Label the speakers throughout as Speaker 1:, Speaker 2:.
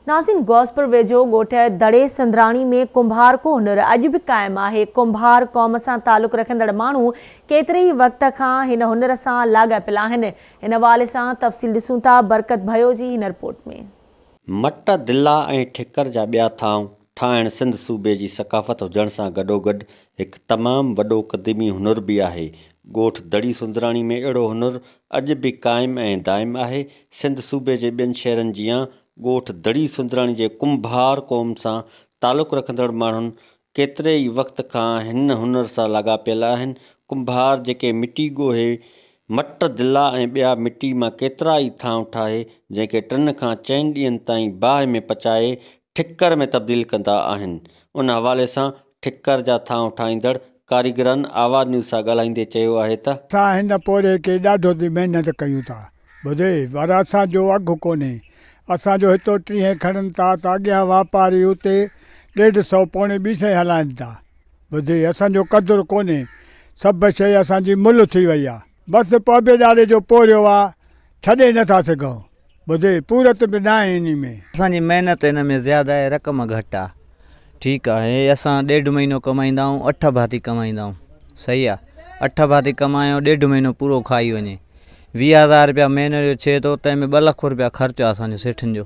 Speaker 1: ناظرين غوثپور ويجهو ڳوٺ دڙي سندراڻي ۾ ڪنڀار ڪو هنر اڄ به قائم آهي. ڪنڀار قوم سان تعلق رکندڙ ماڻهو ڪيتري ئي وقت کان هن هنر سان لاڳاپيل آهن. ان حوالي سان تفصيل ڏسون ٿا برڪت ڀيو جي هن رپورٽ ۾. مٽ،
Speaker 2: دلا ۽ ٺڪر جا ٻيا ٿانو ٺاهڻ سنڌ صوبي جي ثقافت هجڻ سان گڏوگڏ هڪ تمام وڏو قديمي هنر به آهي. ڳوٺ دڙي سوندراڻي ۾ اهڙو هنر اڄ به قائم ۽ دائم آهي. سنڌ صوبي جي ٻين شهرن جيان ڳوٺ دڙي سوندراڻي جي ڪنڀار قوم سان تعلق رکندڙ ماڻهن ڪيتري ئي وقت کان هن هنر سان لاڳاپيل آهن. ڪنڀار جيڪي مٽي ڳوهي مٽ، دلا ۽ ٻيا مٽي مان ڪيترا ئي ٿانء ٺاهي، جنهن کي ٽن کان چئن ڏينهن تائين باهه ۾ پچائي، ٺڪر ۾ تبديل ڪندا آهن. ان حوالي سان ٺڪر جا ٿانء ٺاهيندڙ ڪاريگرن آواز نيوز سان ڳالهائيندي چيو آهي ته. اسان هن پورهيي
Speaker 3: کي ڏاڍو ٿي محنت ڪيون ٿا. ٻڌي، ور اسان جو اگهه ڪونهي. اسان جو هتو ٽيهين کڻن ٿا ته اڳيان واپاري اتي ڏيڍ سئو پوڻي ٻي سئين هلائين ٿا. ٻڌي اسان جو قدر ڪونهي سڀ شيء اسان جي ملهه ٿي وئي آ. بس پوبي ڏاڙهي جو پورهيو آ ڇڏي نه ٿا سگهون. ٻڌي پورت به ناهي انهي ۾. اسان جي محنت ان
Speaker 4: ۾ زياده آهي رقم گهٽ آ. ٺيڪ آ هي اسان ڏيڍ مهينو ڪمائيندا آهون اٺ ڀاتي ڪمائيندا آهون صحيح آ اٺ ڀاتي ڪمايو ڏيڍ مهينو پورو کائي وڃي ويهه هزار رپيا مهيني جو ڇي ٿو تنهن ۾ ٻه لک رپيا خرچ آ اسان جو سيٺن جو.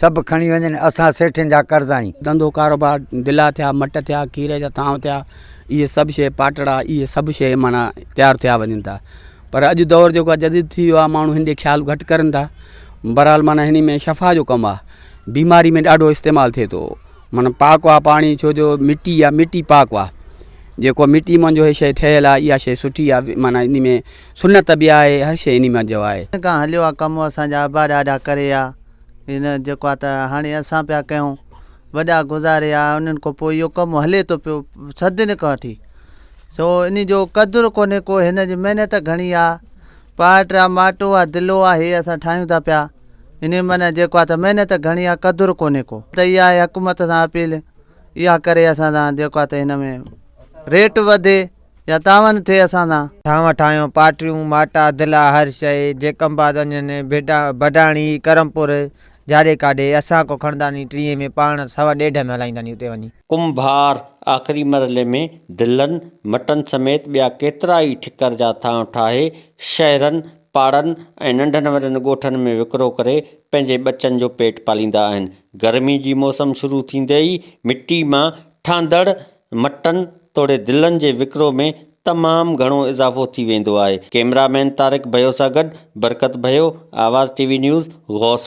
Speaker 5: سڀ کڻي وڃن، اسان سيٺين جا قرض آهيون. ڌنڌو ڪاروبار،
Speaker 6: دلا ٿيا، مٽ ٿيا، کير جا ٿانء ٿيا، اهي سڀ شيء پاٽڙا، اهي سڀ شيء معنيٰ تيار ٿيا وڃن ٿا. پر اڄ دور جيڪو آهي جديد ٿي ويو آهي، ماڻهو هن ڏي خيال گهٽ ڪرن ٿا. بهرحال معنيٰ هني ۾ شفا جو ڪم آهي. بيماري ۾ ڏاڍو استعمال ٿئي ٿو. معنيٰ پاڪ آهي پاڻي، ڇو جو مٽي آهي، مٽي پاڪ آهي. جيڪو مٽي مان جو هي شيء ٺهيل آهي، اها شيء سٺي آهي، معنيٰ انهي ۾ سنت به آهي، هر شيء انهي مان جو آهي. ڪنهن کان هليو آهي ڪم،
Speaker 4: اسان جا ابا ڏاڏا ڪري آ. هن جيڪا ته هاڻي اسان پيا ڪيون وڏا گذاري آ انهن کان پوء اهو ڪم هلي ٿو پيو صدين کان وٺي سو ان جو قدر ڪونهي ڪو هن جي محنت گهڻي آ پاٽ آ ماٽو آ دلو آ هي اسان ٺاهيون ٿا پيا ان معنی جيڪو آ ته محنت گهڻي آ قدر ڪونهي ڪو ته اها حڪومت سان اپيل اها ڪري اسان سان جيڪو آ ته هن ۾ ريٽ وڌي يا تعاون ٿئي اسان سان. ٺاهون ٺاهيون
Speaker 7: پاٽريون، ماٽا، دلا، هر شيء، جيڪم باد وڃن، بڊاڻي، ڪرمپور، جاڏي ڪاڏي، اسان ڪو کڻنداني ٽينء ۾ پاڻ سوا ڏيڍ ۾ هلائينداني اتي وڃي. ڪنڀار،
Speaker 2: آخري مرحلي ۾ دلن، مٽن سميت ٻيا ڪيترا ئي ٺڪر جا ٿانء ٺاهي، شهرن، پاڙن ۽ ننڍن وڏن ڳوٺن ۾ وڪرو ڪري پنهنجي ٻچن جو پيٽ پاليندا آهن. گرمي جي موسم شروع ٿيندي ئي مٽي مان ٺهندڙ مٽن توڙي دلن جي وڪرو ۾ تمام گهڻو اضافو ٿي ويندو آهي ڪيمرا مين طارق ڀيو سان گڏ برڪت ڀيو آواز ٽي وي نيوز غوث